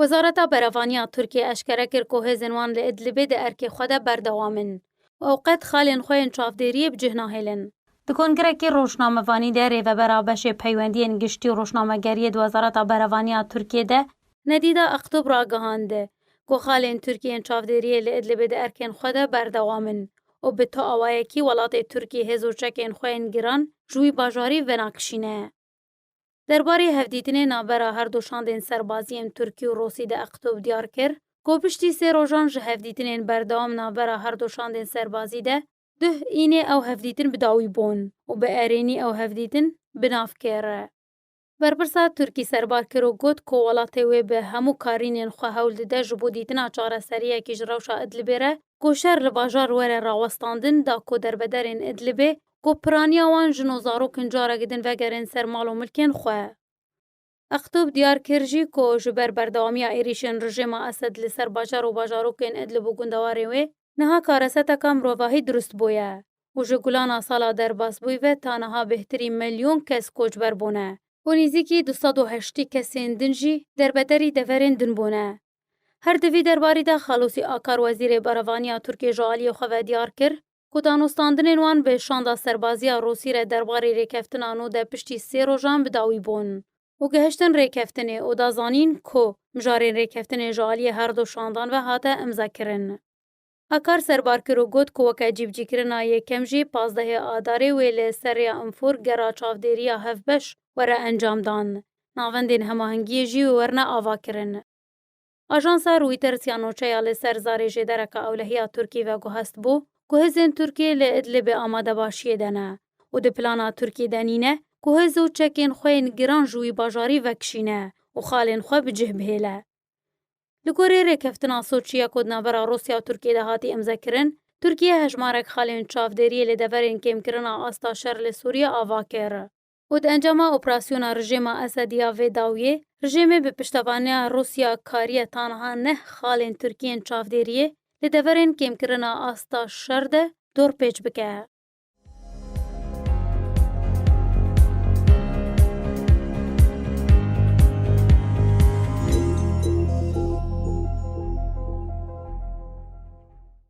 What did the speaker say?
Wezareta Berevaniya Tirkiyê eşkere kir ku hêzên wan li Idlibê di erkê xwe de berdewam in û ew qet xalên xwe yên çavdêriyê bi cih nahêlin. Di kongirekî rojnamevanî de rêvebera beşê peywendiyên giştî û rojnamegeriyê di Wezareta Berevaniya Tirkiyê de, Nedîda Aktub ragihand ku xalên Tirk yên çavdêriyê li Idlibê di erkên xwe de berdewam in û bi tu awayekî welatê Tirkiyê hêz û çekên xwe yên giran ji wî bajarî venakişîne. Derbarê hevdîtinê navbera her du şandên serbazî yên Tirkî û Rûsî di Eqtob diyar kir ku piştî sê rojan ji hevdîtinên berdewam navbera her du şandên serbazî de duh înê ew hevdîtin bi dawî bûn û bi erênî ew hevdîtin bi nav kir. Berpirsa Tirkî serbar kir û got ku welatê wê bi hemû karînên xwe hewl dide ji bo dîtina çareseriyekî ji rewşa Idlibê re ku şer li bajar were rawestandin da ku derbederên Idlibê ku piraniya wan jin û zarokên carekî din vegerên ser mal û milkên xwe. Eqtub diyar kir jî ku ji ber berdewamiya êrîşên rijêma Esed li ser bajar û bajarokên Idlib û gundewarên wê niha kareseteka mirovahî dirust bûye û ji gulana sala derbasbûyî ve ta niha bêhtirî milyon kes koçber bûne û nîzîkî du sed û heştî kesên din jî derbederî deverên din bûne. Her di vî derbarî de Xalûsî Akar wezîrê berevaniya Tirkiyê ji aliyê xwe ve diyar kir ku danûstandinên wan bi şanda serbaziya Rûsî re derbarê rêkeftina nû de piştî sê rojan bi dawî bûn û gihiştin rêkeftinê û da zanîn ku mijarên rêkeftinê ji aliyê her du şandan ve hate imzakirin. Akar serbar kir û got ku weke cîvcîkirina yekem jî pazdehê Adarê wê li ser rêya Infur gera çavdêriya hevbeş were encamdan, navendên hemahengiyê jî wê werne avakirin. Ajansa Reuters ya nûçeya li ser zarê jêdereke ewlehiya Tirkî ve guhestbû ku hêzên Tirkî li Idlibê amadebaşiyê de ne û di plana Tirkî de nîne ku hêz û çekên xwe yên giran ji wî bajarî vekişîne û xalên xwe bi cih bihêle. Li gorî rêkeftina Soçiye ku di navbera Rûsya û Tirkî de hatî imzekirin, Tirkîye hejmarek xalên çavdêriyê li deverên kêmkirina asta şer li Sûrîye ava kir. û di encama operasyona rijêma Esedî ya vê dawiyê, rijêmê bi piştevaniya Rûsya kariye tanha neh xalên Tirkiyê yên çavdêriyê li deverên kêmkirina asta şer de dorpêç bike.